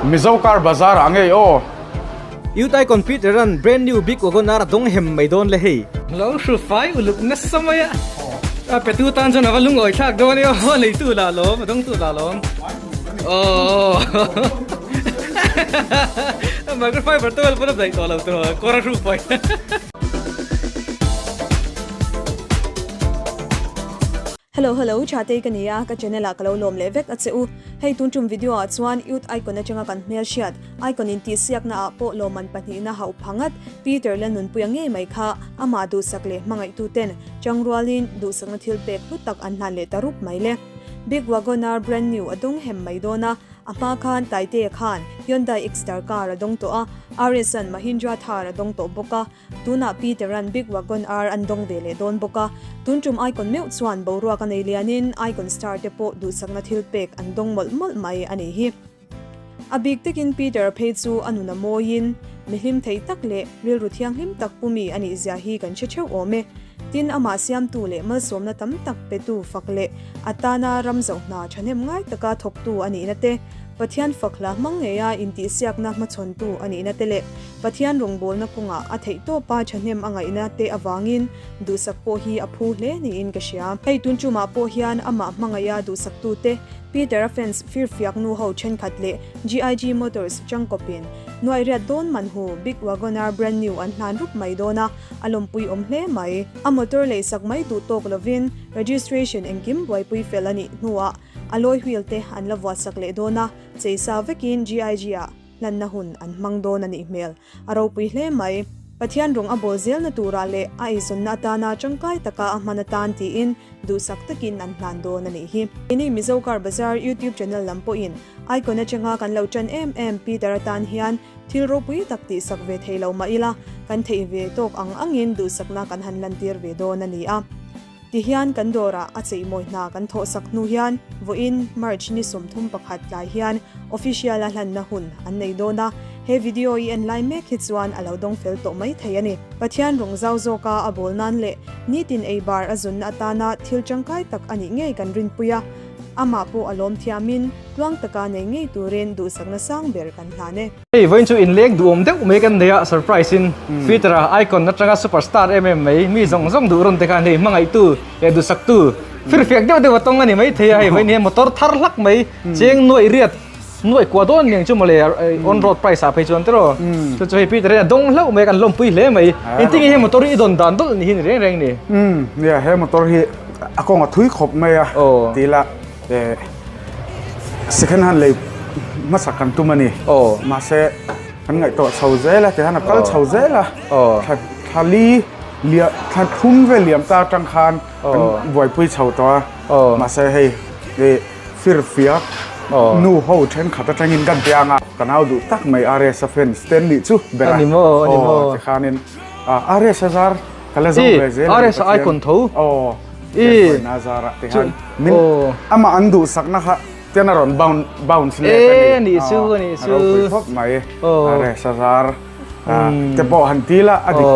Mizo car bazar ah angei aw. Iutai computer an brand new big wagoner a dawng hem mai dawn le hei. Lo hru fai uluk nasa mai a. A petu tan chuan ava lungawi thlak dawn i aw a leitu lah lawm a dawngtu lah lawm aww micro fiber towel pawn a daih tawh lo tawh kawr a hru pawi. Hello hello, Thatei ka ni a, ka channel ah ka lo lawm leh vek a che u. Hei tun tum video ah chuan youth icon atanga kan hmel hriat, icon intihsiakna ah pawh lawmman pahnih na hauh pha ngat, Peter la nunpui a ngei mai kha, amah duhsak leh hmangaihtu ten changrual in duhsakna thil pek hlut tak an hlan leh ta rup mai le. Big Wagoner brand new a dawng hem mai dawn a, a hma khan Taite khan Hyundai X-Star car a dawng tawh a, Ares-an Mahindra Thar a dawng tawh bawk a, Tunah Peter-a'n big wagon ar an dawng ve leh dawn bawk a. Tun tum icon meuh chuan boruak a nei lianin icon star te pawh duhsakna thil pek an dawng mawlh mawlh mai a nih hi. A bik tekin Peter phei chu a nun a mawiin, Mi hlim theih tak leh rilru thianghlim tak pu mi a nih zia hi kan hre theuh awm e. Tin, amah siamtu leh malsawmna tam tak petu fak leh a tana ram zauh hna thahnem ngai taka thawktu a nihna te, Pathian fakhla hmangngeia intihsiakna hmachhawntu a nihna te leh Pathian rawngbawlna kawngah a theihtawpa thahnem a ngaihna te avangin duhsak pawh hi a phu hle niin ka hria. Hei tuncumah pawh hian amah hmangaihah duhsaktute Peter-a fans firfiaknu ho thenkhat leh GIG Motors changkawpin nuaihriat dawn manhu Big Wagoner brand new an hlan rup mai dawn a, a lawmpui awm hle mai. A motor lei sak mai duh tawk lovin registration engkim buaipui fel a nih hnuah alloy wheel te an la vuahsak leh dawn a, chei sa vekin GIG-a. hlanna hun an hmang dawn a nih hmel. A ropui hle mai. Pathian rawn a bawl zelna tura leh a eizawnna atana tangkai taka a hman atan tiin duhsak takin an hlan dawn a nih hi. Keini Mizo Car Bazaar YouTube channel lam pawhin icon atanga kan lo tan em em Peter atan hian thil ropui tak tihsak ve thei lo mah ila kan theih ve tawk ang angin duhsakna kan han lantir ve dawn a ni a. Tihian kan dawrah a cheimawi hna kan thawhsak hnu hian vawiin March ni sawmthum pakhat tlai hian official-a hlanna hun an nei dawn a. He video i en lai mek hi chuan a lo dawng fel tawh mai thei a ni. Pathian rawn zau zawka a bawl nan leh nitin ei bar a zunna atana thil tangkai tak a nih ngei kan rinpui a. Amah pawh a lawmthiamin tluang taka nei ngei turin duhsakna sang ber kan hlan e. Hei vawiin chu in lêng duhawm deuh mai kan nei a, surprise in Twitter ah icon atanga super star em em mai mi zawng zawng duhrawn te khan hei hmangaihtu leh duhsaktu fir fiak deuh deuh a tawng a ni mai thei a, hei vawiin hian motor thar hlak mai cheng nuaih riat nuaih kuah dawn aniang chu mawle on road price ah phei chuan te rawh chu chu hei Peter hian a dawng hlauh mai a kan lawmpui hle mai engtin nge he motor hi i dawn dan dawn a nih hi ni reng reng ni? Umm nia he motor hi a kawng a thui khawp mai a tih ila. Eh, second hand lei hmasa kan tum a ni. Oh. Mahse, kan ngaih tawh chho zel a, tichuan a kal chho zel a. Oh. Thla, thla li, lia, thla thlum vel liam ta atang khan kan buaipui chho tawh a. Oh. Mahse hei, hei fir fiak, nu ho thenkhat atangin kan pe ang a. Ka nau duh tak mai RS-a fan Stanley chu bera. A ni maw, a ni maw. Oh, tikhanin RS-a zar. Ih, RSI kawn tho. Aww. Ih. Nâ zâr ah tihian. Min. Aww. Amah an duhsak na kha chian a rawn bounce, bounce leh ka ni. Êêh, ni chu, ni chu. A ropui khawp mai. Aww. RSI a zâr. Umm. Te pawh han tîl a, a dik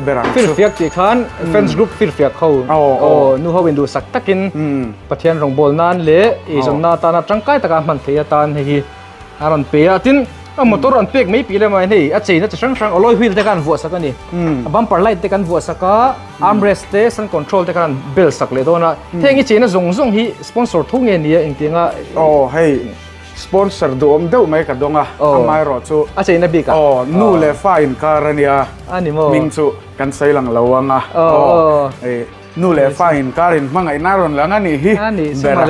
ber ang chu. Aww. Firfiak tih khan, friends group firfiak ho. Aww. Aww, nu hoin duhsak takin. Umm. Pathian rawngbâwl nân leh, ihzawmna atâna ṭangkai taka hman theih atan hei hi. a rawn pe a tin a motor an pek mai pi lam ah hian hei a chain a chi hrang hrang alloy wheel te khan an vuah sak a ni a bumper light te kan vuah sak a armrest te sun control te khan an bel sak leh dawn a heng i chain a zawng zawng hi sponsor tho nge nia eng tiang a aw hei sponsor duhawm deuh mai ka dawng a amah erawh chu a chain a bik ah aw nu leh fa inkar a nia a ni maw hming chu kan sawi lang lo ang a aw hei. Nu leh fa in kar in hmangaihna a rawn lang a nih hi ber a,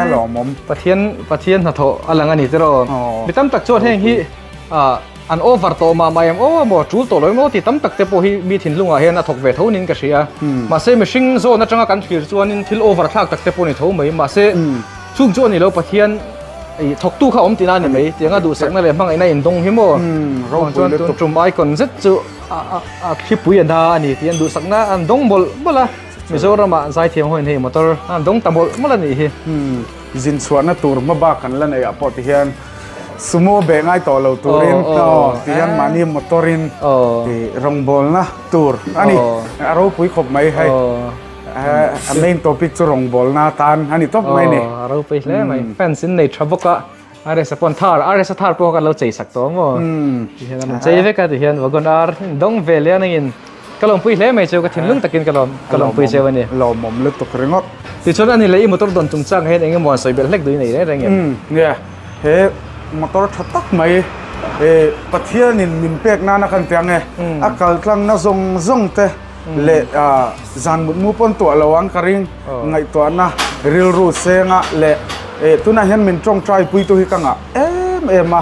a lawmawm. Pathian Pathian hnathawh a lang a ni tiraw? Mi tam tak chuan heng hi an over tawh mah mah em aw a maw, a tul tawh lo em aw tih tam tak te pawh hi mi thinlung ah hian a thawk ve tho niin ka hria a. Mahse mihring zawn atanga kan thlir chuanin thil over thlak tak te pawh a ni tho mai. Mahse chung chu a ni lo, Pathian ih thawktu kha awm tina a ni mai. Tianga duhsakna leh hmangaihna indawng hi maw? Ropui lutuk. Tum icon zet chu. a khipui a hna a ni tih an duhsakna a dawng bawlh bawlh a Mizoramah zaithiam ho in hei motor a dawng ta bawlh bawlh a nih hi zin chhuahna tur hma bak an la neih ah pawh ti hian sumo beh ngai tawh lo turin aw ti hian mahni motor in rawngbawlna tur a ni a ropui khawp mai hei a main topic chu rawngbawlna tan a ni tawp mai a ni a ropui hle mai fans in a nei tha bawk a. Aresa pawn thar, aresa thar pawh kan lo chei sak tawh ang aw, tihian a rawn chei vek a tihian vagon ar dawng vel hian hei in ka lawmpui hle mai chu ka thinlung takin ka lawm ka lawmpui cheu a ni. Lawmawm lutuk ringawt. Tichuan a ni leh i motor dawn chung chang hian eng emaw an sawi belh hlek duh i nei reng reng em? Nia, he motor tha tak mai Pathianin min pek nana kan tia nge a kaltlangna zawng zawng te leh zan mutmu pawn tuah lo ang ka ring ngaihtuahna rilru senga leh tunah hian min tawngtai pui tu hi ka ngah em em a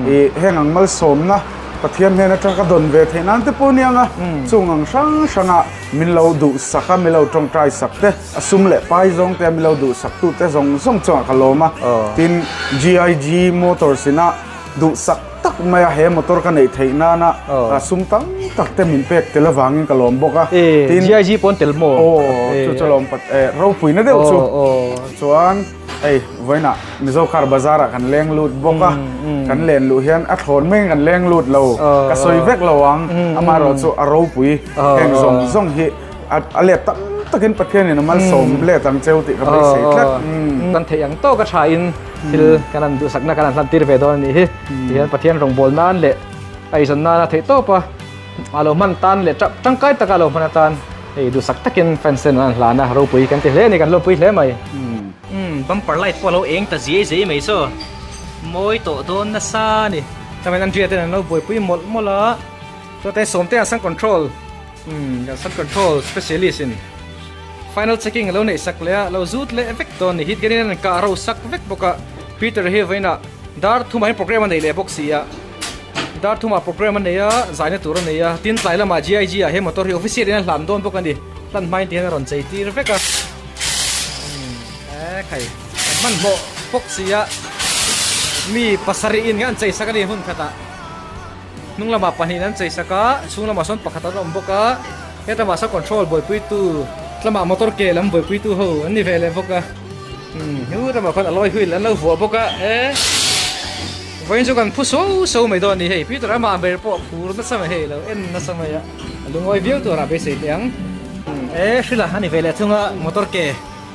ih heng ang malsawmna Pathian hnena tang ka dawn ve thei nan te pawh aniang a chung ang hrang hranga min lo duhsak a min lo tawngtai sak te a sum leh pai zawng te a min lo duhsak tu te zawng zawng chuan ka lawm a tin GIG motors ina duhsak tak mai a, he motor ka neih theih nana sum tam tak te min pek tel avangin ka lawm bawk a, tin GIG pawn tel maw? Aw chu chu lawm pat e, ropuina deuh chu, chuan hei vawiin ah Mizo car bazar ah kan leng lut bawk a, kan len luh hian a thlawn mai in kan leng lut lo, ka sawi vek lo ang, amaherawhchu a ropui heng zawng zawng hi. a let tam takin Pathianin a malsawm hmm. let ang cheu tih ka hmai sei tlat. Hmm. Kan thei ang tawk a tha in hmm. thil kan an duhsakna kan an hlan tir ve dawn ni hi. Tihian Pathian rawngbawl nan leh aizan nan a thei tawp a. A lo man tan leh tangkai taka lo man tan. Hei duhsak takin fansen an hlan a ropui kan ti hle ni kan ropui hle mai. Bumper light pawh lo eng ta zia zia mai saw. Mawi tawh dawn na sa ni. Tamen an riatin an lo buaipui mawlh mawlh a. Chuan te sawmte an sang control Kan Sun Control Specialist in Final Checking alo neih sak leh a, alo zut leh vek dawn ni hi tiangin an rawn kah ro sak vek bawk a, Peter hi vawiin a dar thuma hian Programme a nei leh bawk si a, dar thuma Programme a nei a, zaina tur a nei a, tin tlai lamah GIG ah he Motor hi Official in a hlan dawn bawk a ni, hlan hmain tiangin a rawn chei tir vek a, eeh khai kan hman hlawh bawk si a, mi pasarih in nge an chei sak a ni hun khatah. Hnung lamah pahnihin an chei sak a, chhung lamah sawn pakhat an awm bawk a, heta mahse control buaipuitu tlama motor ke lam buaipuitu ho an ni ve leh bawk a, hutlamah khawn alloy wheel an lo vuah bawk a, eh vawiin chu kan phu suau suau mai dawn a ni hei, Peter ama a ber pawh phur nasa mai hei lo, en nasa mai a, a lungawi viau tur a beisei teh ang, eh hrilh a, a ni ve leh thung a motor ke.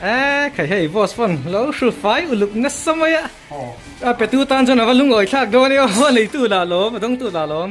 Aa kha hei boss pawn lo hru fai uluk nasa mai a a petu tan chuan ava lungawi thlak dawn i aw a nei tu lahlawm a dawng tu lahlawm.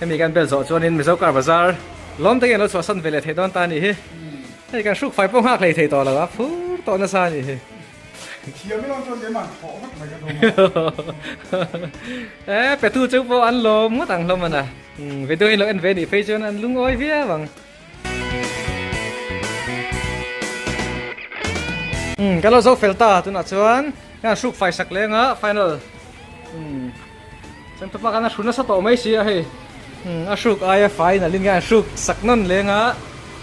Hemi kan bel zawh chuanin Mizo Car Bazar lawm takin lo chhuahsan ve leh thei dawn ta ni hi. Hei kan hruk fai pawh nghak hlei thei tawh lo a, phur tawh nasa a ni hi. Thiam erawh chuan keima'n thawh vek mai ka duh ang. E Petu chu pawh an lawm ngawt ang hlawm an a, video hi lo en ve anih phei chuan an lungawi viau ang. Umm, kan lo zo fel ta, tunah chuan hian hruk fai sak leng a, final. Umm, chuan tupa khan a hru nasa tawh mai si a hei. Umm, a hruk aia fai nalh in hian hruk sak nawn leng a,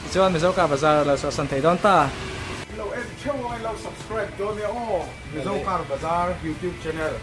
tichuan Mizo ka bazar a lo chhuah san thei dawn ta. Lo en theuh ang i lo subscribe dawn nia aw, Mizo kar bazar youtube channel.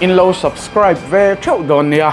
In lo subscribe ve theuh dawn nia.